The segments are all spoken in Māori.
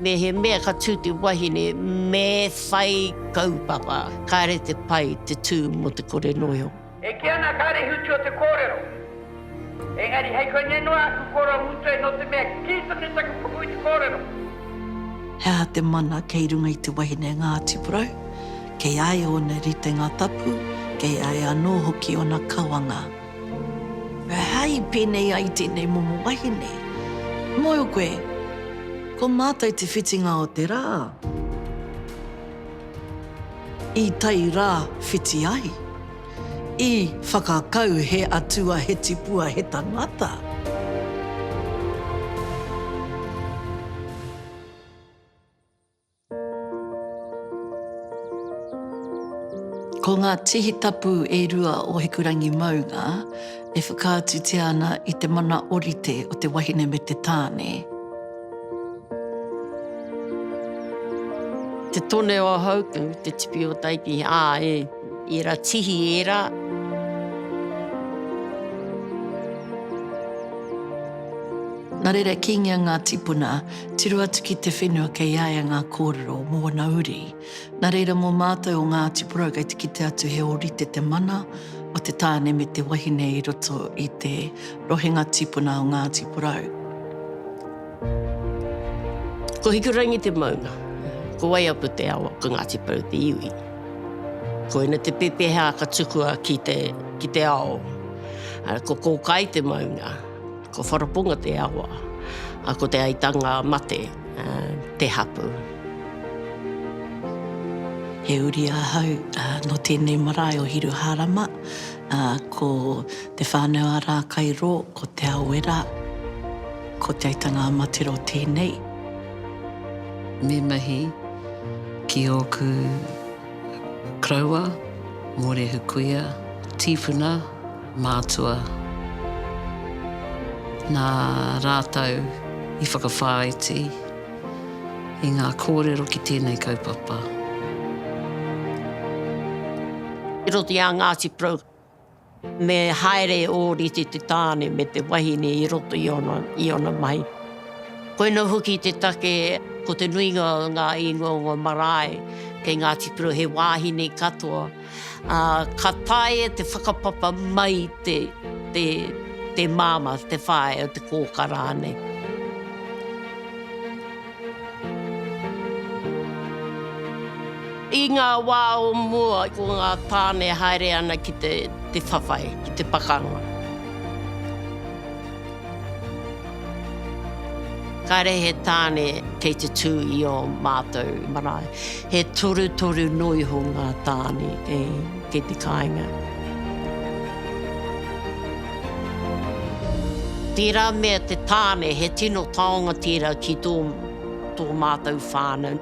Mehemea ka tū te wahine me whai kaupapa, kāre te pai te tū mō te kore noio. E kī ana kāre i whiti o te kōrero, engari hei koinei noa aku koro a Mutoe nō te mea kī tonu taku puku i te kōrero. He aha te mana kei runga i te wahine Ngāti Porou? Kei a ia ōna ritenga tapu, kei a ia anō hoki ōna kawanga. Aha i pēnei ai tēnei momo wahine? Mōhio koe, ko mātou te whitinga o te rā. I tai rā whiti ai. I whakakau he atua, he tipua, he tangata. Ko ngā tihi tapu e rua o Hikurangi maunga e whakaatutia ana i te mana orite o te wahine me te tāne. Te tone o Hautu, te tipi o Taiti, ā, e ērā tihi ērā. Nā reira, kīngia ngā tīpuna. Tiro atu ki te whenua kei a ia ngā kōrero o ōna uri. Nā reira mō mātou o Ngāti Porou kei te kite atu he ōrite te mana o te tāne me te wahine i roto i te rohenga tīpuna o Ngāti Porou. Ko Hikurangi te maunga, ko Waiapu te awa, ko Ngāti Porou te iwi. Koina te pepeha ka tukua ki te ao. Ko Kōkai te maunga. Ko Wharaponga te awa, a ko Te Aitanga-a-Mate te hapu. He uri ahau no tenei marae o Hiruharama, ko te whanau a Rakairo, ko Te Awera, ko Te Aitanga-a-Mate ro tenei. Me mahi ki oku koroua, Morehu Kuia, tifuna. Mātua. Nā rātou i whakawhāiti i ngā kōrero ki tēnei kaupapa. Te roti a Ngāti Porou. Me haere e ōrite te tāne me te wahine i roto i ōna, i ōna mahi. Koinā hoki te take, ko te nuinga o ngā ingoa o ngā marae kei Ngāti Porou he wāhine katoa. Ā, ka taea e te whakapapa mai te, te, te māmā, te whāea, te kōkā rānei. I ngā wā o mua, ko ngā tāne e haere ana ki te, te whawhai, ki te pakanga. Kāre he tāne kei te tū i ō mātou marae. He torutoru noa iho ngā tāne kei te kāinga. Tērā mea te tāne he tino taonga tērā ki tō mātou whānau.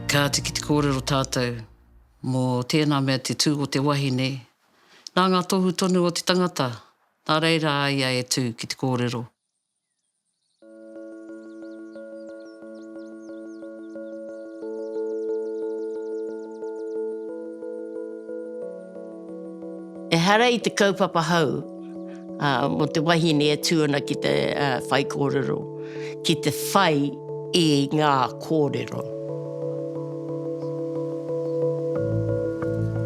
Kāti ki te kōrero tātou mō tēnā mea te tū o te wahine Nā ngā tohu tonu o te tangata, nā reira a ia e tū ki te kōrero. Ehara i te kaupapa hou. ā, mō te wahine e tū ana ki te whaikōrero, ki te whai i ngā kōrero.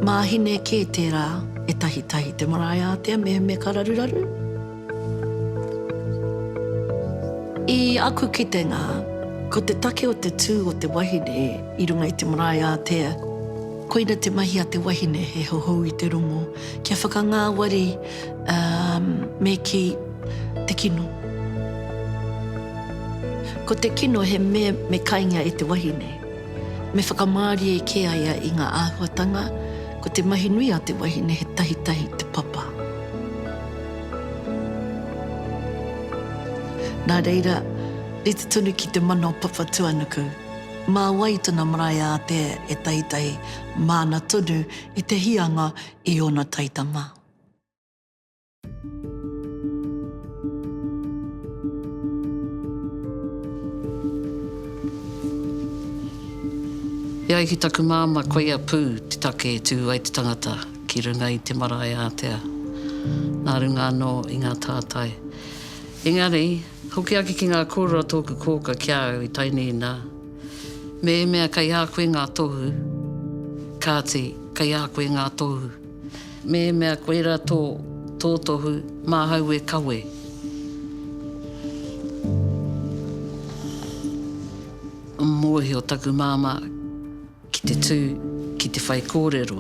Māhine kē tērā e tahitahi te marae ātea mehemea ka raruraru. I aku kitenga, ko te take o te tū o te wahine i runga i te marae ātea, koina te mahi a te wahine he hohou i te rongo, kia whakangāwari, Ā, me kī, Te kino. Ko te kino he mea me kaingia e te wahine. Me whakamārie kē a ia i ngā āhuatanga, ko te mahi nui a te wahine he tahitahi te papa. Nā reira, rite tonu ki te mana o Papatuanuku. Mā wai tana marae ātea e tahitahi māna tonu i te hīanga i ōna taitama? E ai ki taku māmā, koia pū te take e tū ai te tangata ki runga i te marae ātea, nā runga anō i ngā tātai. Engari, hoki ake ki ngā kōrero a tōku kōka ki a au i Tainīna, mēmea kei a koe ngā tohu, kāti, kei a koe ngā tohu. Mēhemea koira tō tōtohu, māhau e kawe. Mōhio taku māmā ki te tū ki te whaikōrero.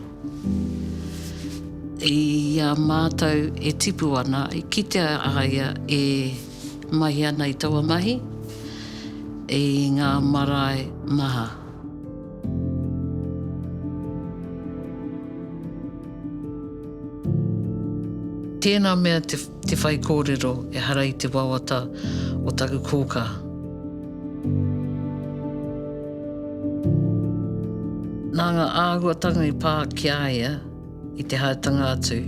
I a mātou e tipu ana, i kitea a ia e mahi ana i taua mahi, i ngā marae maha. Tēnā mea te, te whaikōrero, ehara i te wawata o taku kōkā. Nā ngā āhuatanga i pā ki a ia, I te haetanga atu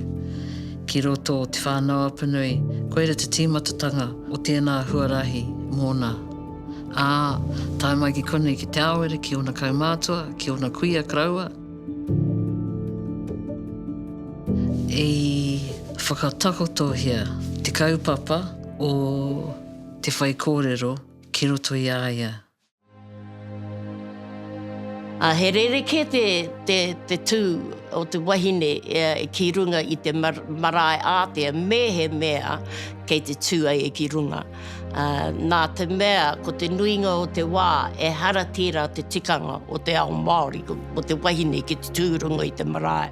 ki roto o Te Whānau-a-Punui, koira te tīmatatanga o tēnā huarahi mōna. Ā, tae mai ki konei ki Te Aowera, ki ōna kaumātua, ki ōna kuia karaua, i whakatakotohia te kaupapa o te whaikōrero ki roto i a ia. Ā, he rerekē te, te, te tū o te wahine ki runga i te marae ātea me he mea kei te tū ai ki runga. Ā, nā te mea ko te nuinga o te wā ehara tērā te tikanga o te ao Māori, o te wahine ki te tū runga i te marae.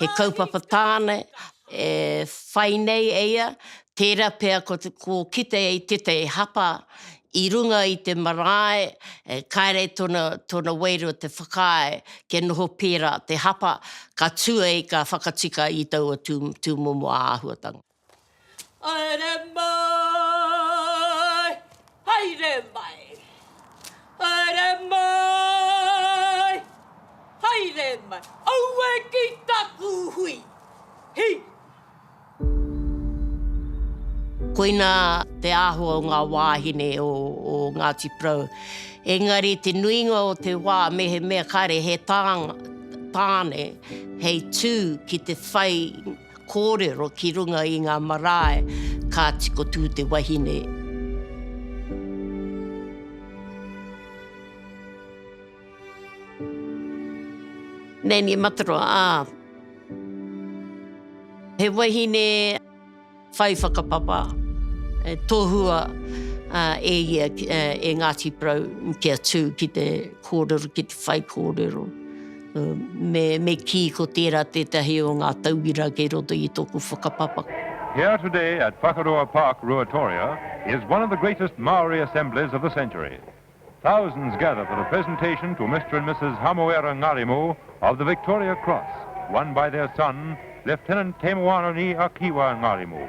He kaupapa tāna e whai nei e ia, tērā pea ko te, ko kite i tētahi hapa i runga i te marae, e, kāre tōna, tōna wairua te whakaae kia noho pērā te hapa, ka tū ai ka whakatika i taua tū, tūmomo āhuatanga. Haere mai! Haere mai! Haere mai! Haere mai! Aue ki taku hui! Hi! Koina te āhua o ngā wāhine o Ngāti Porou. Engari te nuinga o te wā mehemea kāre he tāne hei tū ki te whai Kōrero ki runga i ngā marae ka tiko tū te wahine. Nanny Mataroa, ā, he wahine whai whakapapa e tohua e ia e Ngāti Porou kia tū ki te kōrero, ki te whaikōrero. Me kī ko tērā tētahi o ngā tauira kei roto i tōku whakapapa. Here today at Whakaroa Park, Ruatoria, is one of the greatest Māori assemblies of the century. Thousands gather for the presentation to Mister and Mrs Hamoera Ngarimu of the Victoria Cross, won by their son, Lieutenant Te Moana-ni-a-Kiwa Ngarimu.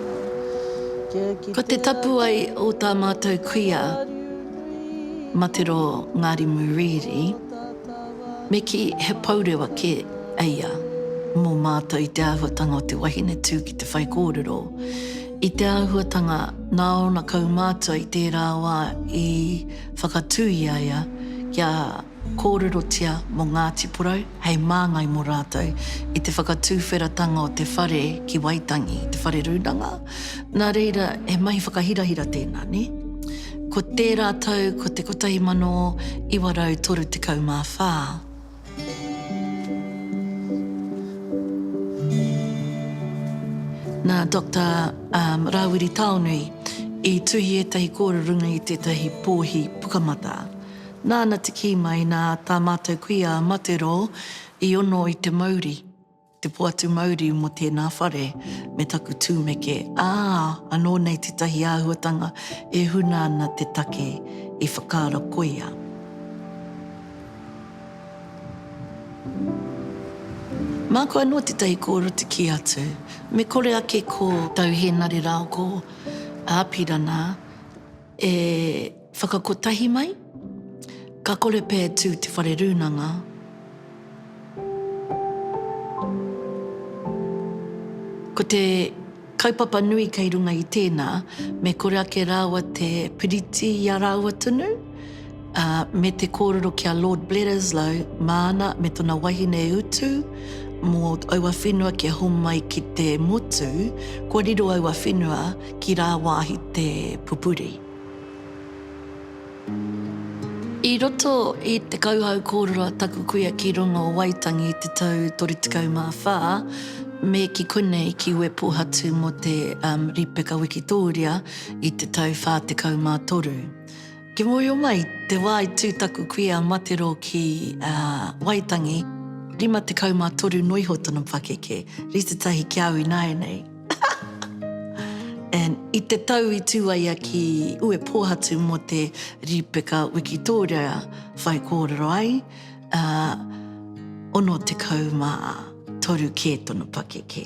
Ko te tapu ai o tā mātou kuia Matero Ngarimu Reedy, me kī he pourewa kē eia mō mātou i te āhuatanga o te wahine tū ki te whaikōrero. I te āhuatanga nā ōna kaumātua i tērā wā i whakatū i a ia kia. Kōrerotia mō Ngāti Porou hei māngai mō rātou i te whakatūwheratanga o te whare ki Waitangi, te whare rūnanga. Nā reira, he mahi whakahirahira tēnā, nē? Ko tērā tau ko te 1934. Nā Doctor Rāwiri Taonui i tuhi ētahi kōrerorunga i tētahi pōhi pukamata. Nāna te kī mai nā tā mātou kuia a Materō i ono i te mauri, te poatu mauri mō tēnā whare me taku tūmeke, ā, anō nei tētahi āhuatanga e huna ana te take i whakaaro koia. Māku anō tētahi kōrero te kī atu, me kore ake ko. Tau Hēnare rāo ko Āpirana. E whakakotahi mai, ka kore pea e tū te whare rūnanga. Ko te kaupapa nui kei runga i tēnā, me kore ake rāua te piriti i a rāua tonu, ā, me te kōrero ki a Lord Bledisloe māna me tōna wahine e utu mō aua whenua kia homai ki te motu, kua riro aua whenua ki rāwāhi te pupuri. I roto i te kauhau kōrero a taku kuia ki runga o Waitangi i te tau 34, me ki konei ki Uepōhatu mō te Ripeka Wikitōria i te tau 43. Ki mōhio mai, te wā i tū taku kuia a Matero ki Waitangi, 53 noa iho tana pakeke, rite tahi ki au ināianei. And i te tau i tū ai ia ki Uepōhatu mō te rīpeka wikitōria whai kōrero ai, 63 kē tana pakeke.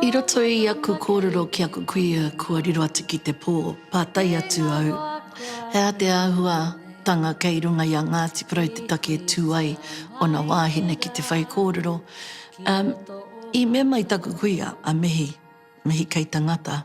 I roto i aku kōrero ki aku kuia kua riro atu ki te pō, pātai atu au, He aha te āhuatanga kei runga i a Ngāti Porou te take e tū ai ōna wāhine ki te whaikōrero? I mea mai taku kuia, a Mihi, Mihi Keita Ngata,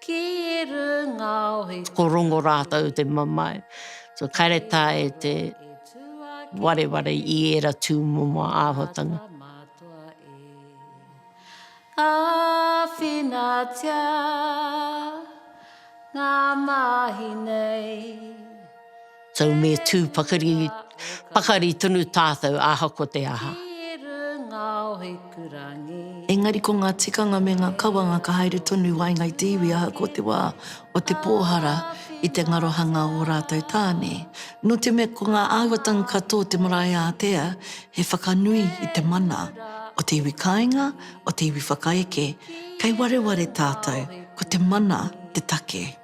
ki runga o he. Ko Rongo rātou te mamae. So kaire tā e te wareware i ēra tūmomo āhuatanga. Āwhinatia ngā mahi nei. So me tū pakari, pakari tonu tātou ahako te aha. Engari ko ngā tikanga me ngā kawanga ka haere tonu i waenga i te iwi ahako te wā o te pōhara i te ngarohanga o ō rātou tāne. Nō te mea ko ngā āhuatanga ka tō te marae ātea he whakanui i te mana o te iwi kāinga, o te iwi whakaeke, kei wareware tātou, ko te mana te take.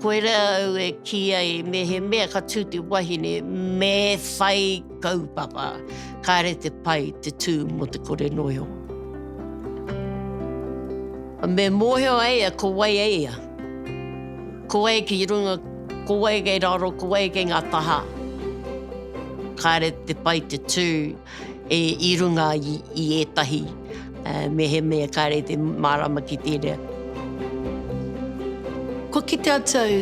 Koira au e kī ai mehemea ka tū te wahine me whai kaupapa, kāre te pai te tū mō te kore noi o. Me mōhio ai a ko wai e ia. Ko wai ki runga, ko wai kei raro, ko wai kei ngā taha, kāre te pai te tū. i runga i ētahi mehemea kāre i te mārama ki tērā. Kua kite atu au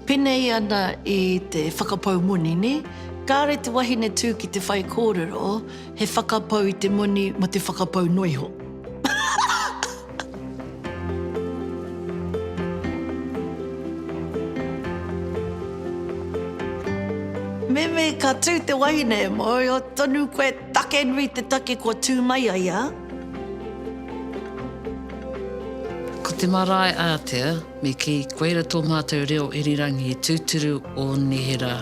penei ana i te whakapau moni, nē? Kāre te wahine tū ki te whaikōrero he whakapau i te moni mō te whakapau noa iho. Meme, ka tū te wahine, mōhio tonu koe take nui te take kua tū mai ai a. Ko te marae ātea, me kī, koira tō mātou reo irirangi tūturu o neherā.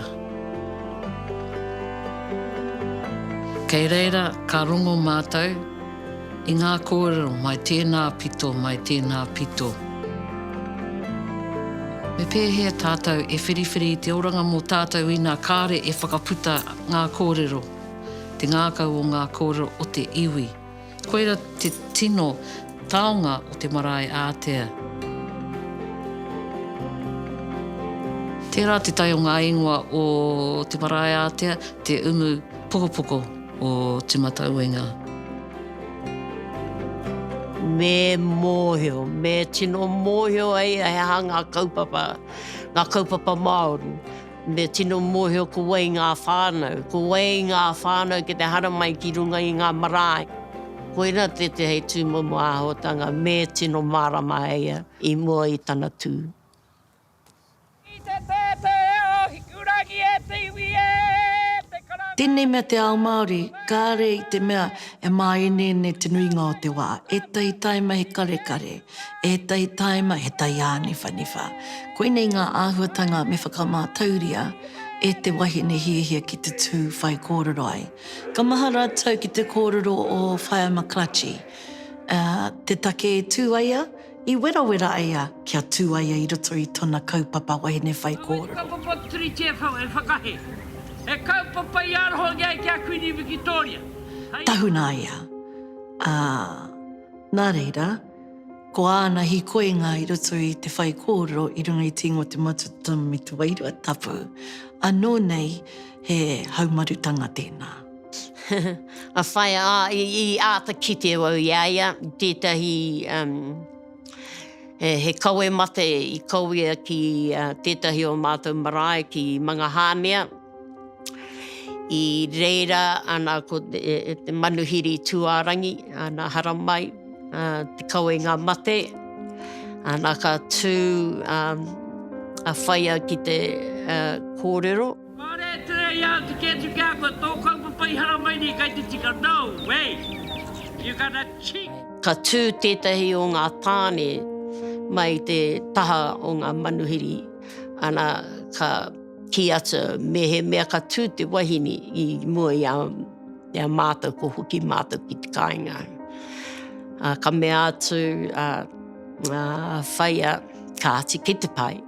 Kei reira ka rongo mātou. I ngā kōrero, mai tēnā pito, mai tēnā pito. Me pēhea tātou e whiriwhiri i te oranga mō tātou ina kāre e whakaputa ngā kōrero, te ngākau o ngā kōrero o te iwi. Koira te tino taonga o te marae ātea. Tērā te tai o ngā ingoa o te marae ātea, te umu pokopoko. o Te Matauenga. Me mōhio, me tino mōhio ai he aha ngā kaupapa, ngā kaupapa Māori. Me tino mōhio ko wai ngā whānau, ko wai ngā whānau ki te haramai ki runga i ngā marae. Koira te te hei tūmomo āhotanga me tino mārama ai ia i mua i tana tū. Ki te tētē o Hikurangi e te iwi e te karanga e. Tēnei mea te ao Māori, kāre i te mea e māeneene te nuinga o te wā, ētahi tāima he karekare, ētahi tāima he taiāniwhaniwha. Koinei ngā āhuatanga me whakamātauria e te wahine hiahia ki te tū whai kōrero ai. Ka maha rātou ki te kōrero o Whaea McClutchie, ā, te take e tū ai a. I werawera ai a kia tū ai i roto i tona kaupapa wahine whaikōrero. Ko wai te kaupapa Turi Te Whau e whakahe he kaupapa i arohangi ai ki a Kuini Wikitoria hei. Tahuna ai a, a, nā reira, ko āna hikoinga i roto i te whaikōrero i runga i Tīngoa Te Matututanga me Te Wairua Tapu, anō nei he haumarutanga tēnā. a whai, a, i, i āta kite au i a ia, tētahi, um, he, he kawe mate i kawea ki uh, tētahi o mātou marae ki Mangahāmea, i reira ana ko te, e, e te manuhiri tūārangi, ana haramai, uh, te kawenga mate, ana ka tū um, a whaia ki te uh, kōrero, Kāre e tere i au te kē atu ki a koe, tō kaupapa i haramai nei kai te tika, no way! You got a cheek! Ka tū tētahi o ngā tāne mai te taha o ngā manuhiri, ana ka kī atu mehemea ka tū te wahine i mua i a mātou ko hoki mātou ki te kāinga. Ka mea atu a Whaea, Kāti, ki te pae.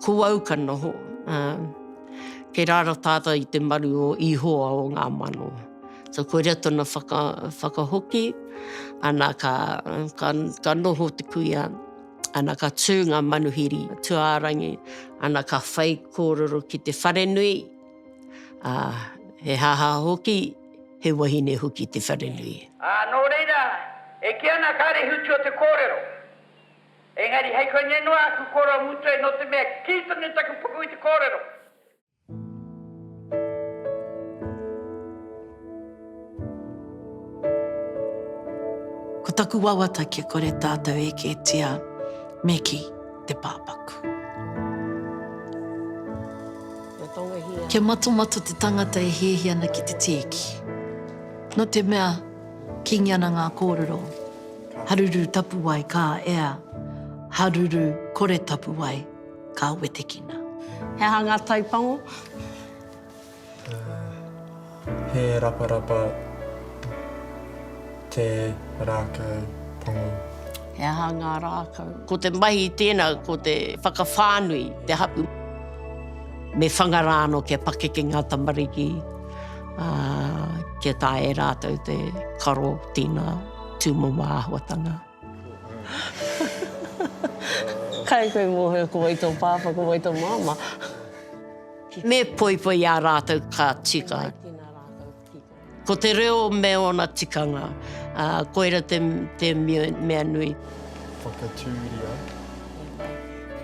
ko au ka noho, kei rara tātau i te maru o Ihoa o ngā mano. So koira tona whakahoki, ana ka noho te kuia, ana ka tū ngā manuhiri tuārangi, ana ka whai kōrero ki te wharenui, he haha hoki, he wahine hoki te wharenui. Nō reira, e kī ana kāre i whitua te kōrero. Engari hei koinei noa aku koro mutue no te mea kii tonu taku puku i te korero. Ko taku wawata kia kore tatou e ketia me ki te papaku. Kia matomato te tangata e hihi ana ki te tieki. No te mea kingi ana nga korero. Haruru tapuwae ka ea, haruru kore tapuwae ka wetekina. He aha ngā taipango? He raparapa te rākau pango. He aha ngā rākau? Ko te mahi tēnā ko te whakawhānui te hapu. Me whanga rā anō kia pakeke ngā tamariki, ā, kia taea e rātou te karo tīna. Tūmama āhuatanga. Kai koe mōhio ko wai tō pāpā, ko wai tō māmā. Me poipoi ā rātou ka tika. Ko te reo me ōna tikanga, ā, koira te, te mea nui. Whakatūria.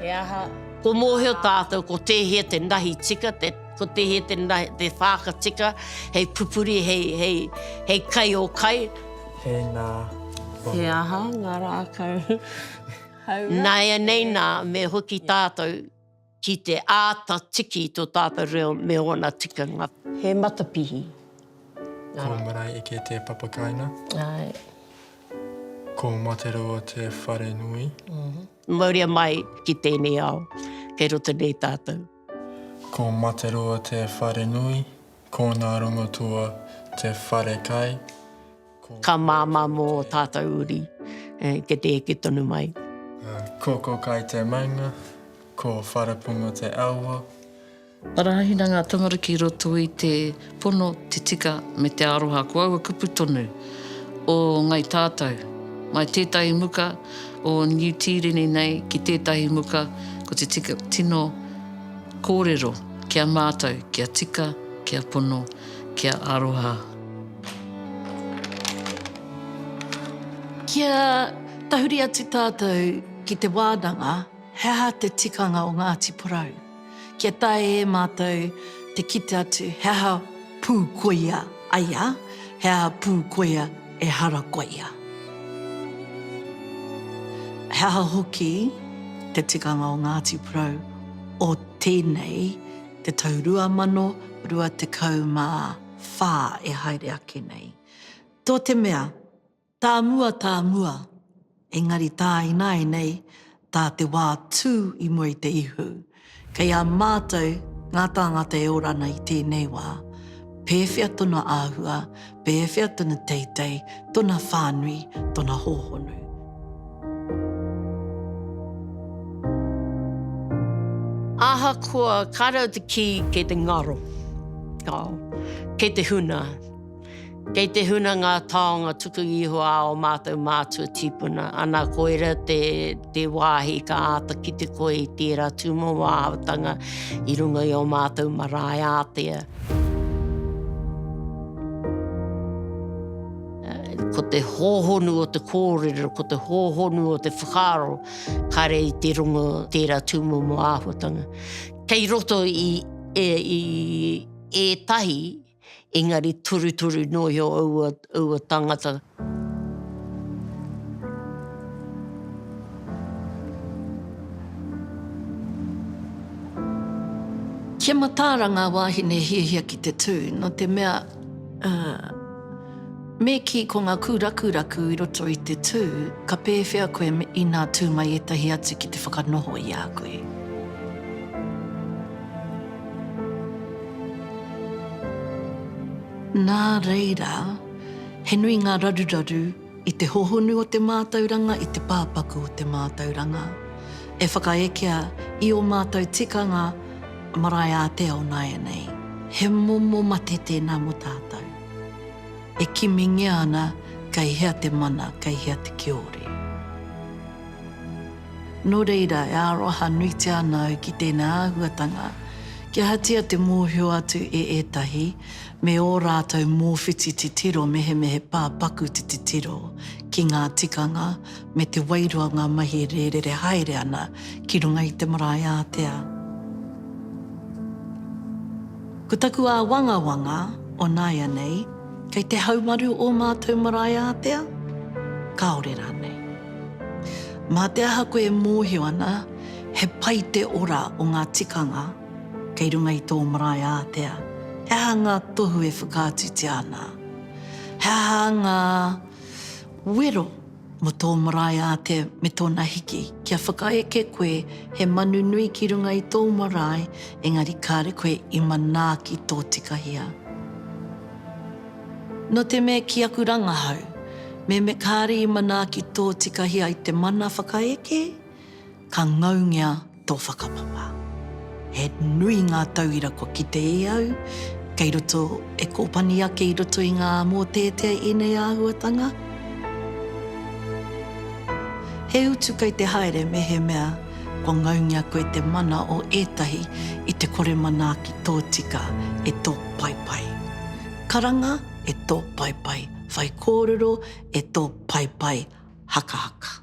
He aha. Kua mōhio tātou ko tēhea te nahi tika, te. Ko te hē te whā ka tika hei pupuri, hei kai o kai. Tēnā koe. He aha ngā rākau hauora? Nāianei nā, me hoki tātou ki te āta tiki i tō tātou reo me ōna tikanga. He matapihi. Ko Maraeike te papakaina. Āe. Ko Materoa te wharenui. Mauria mai ki tēnei ao, kei roto nei tātou. Ko Materua te whare nui, ko Ngārongotua te whare kai, ko. Ka māmā mō ō tātou uri, kia te eke tonu mai. Ko Kokai te maunga, ko Whareponga te aua. Arahina ngā tamariki i roto i te. Pono, te tika me te aroha ko aua kupu tonu o Ngai Tātou. Mai tētahi muka o Niu Tīreni nei ki tētahi muka ko te tika tino kōrero ki a mātou kia tika, kia pono, kia aroha. Kia tahuri atu tātou ki te wānanga he aha te tikanga o Ngāti Porou. Kia taea e mātou te kite atu he aha pū koia ai a he aha pū koia ehara koia. He aha hoki te tikanga o Ngāti Porou o tēnei te tau 2024 e haere ake nei. Tō te mea. Tā mua, tā mua, engari tā ināinei, tā te wā tū i mua i te ihu, kei a mātou ngā tāngata e ora ana i tēnei wā, pēwhea tona āhua, pēwhea tona teitei, tona whānui, tona hōhonu. Ahakoa, kāre au te kī, kei te ngaro, kei te huna. Kei te huna ngā taonga tuku iho a ō mātou mātua tīpuna, ana koira te te wāhi ka āta kite koe i tērā tūmauāhautanga i runga i ō mātou marae ātea. Ko te hōhonu o te kōrero, ko te hōhonu o te whakaaro, kare i te rongo tērā tūmauāhuatanga. Kei roto i ētahi. engari torutoru noa iho aua tangata. Kia mataara ngā wāhine hiahia ki te tū, nō te mea. Me kī, ko ngā kūrakuraku i roto i te tū, ka pēwhea koe inā tū mai ētahi atu ki te whakanoho i a koe? Nā reira, he nui ngā raruraru i te hohonu o te mātauranga, i te pāpaku o te mātauranga, e whakaekea i ō mātou tikanga marae-ā-te-ao nāianei. He momo mate tēnā mō tātou. E kimingia ana kei hea te mana, kei hea te kiore. Nō reira, e aroha nuitia ana au ki tēnei āhuatanga, kia hatia te mōhio atu e ētahi me ō rātou mōwhiti titiro mehemehe pā paku te titiro ki ngā tikanga me te wairua ngā mahi e rērere haere ana ki runga i te marae ātea. Ko taku āwangawanga o nāianei, kei te haumaru ō mātou marae ātea? Kāore rānei. Mā te aha koe e mōhio ana he pai te ora o ngā tikanga kei runga i tō marae ātea? He aha ngā tohu e whakaatutia ana? He aha ngā wero? Mō tō marae ātea me tōna hiki, kia whakaeke koe he manu nui ki runga i tō marae, engari kāre koe i manaaki tōtikahia. Nō te mea ki aku rangahau, me me kāre i manaaki tōtikahia i te mana whakaeke, Ka ngaungia tō whakapapa. He nui ngā tauira kua kite e au kei roto, e kōpani ake i roto i ngā mōteatea ēnei āhuatanga. He utu kei te haere mehemea kua ngaungia koe te mana o ētahi i te kore manaaki tōtika e tō paepae karanga, e tō paepae whaikōrero, e tō paepae hakahaka.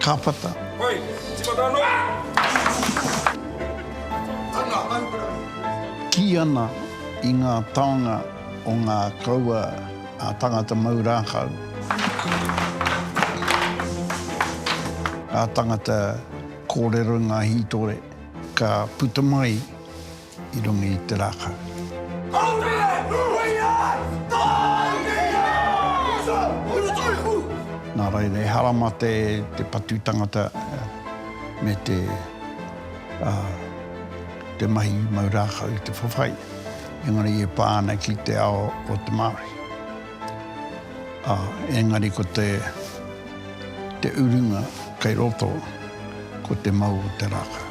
Kāpata. Hoi, timata anō! Ana, hau kura! Kī ana i ngā taonga o ngā kaua a Tangata Mau Rākau, a Tangata Kōrero i ngā hītore, ka puta mai i runga i te rākau. Nā reira, ehara mā te patu tangata me te mahi mau rākau i te whawhai, engari e pā ana ki te ao o te Māori. Ā, engari ko te, te urunga kei roto, ko te mau o te rākau.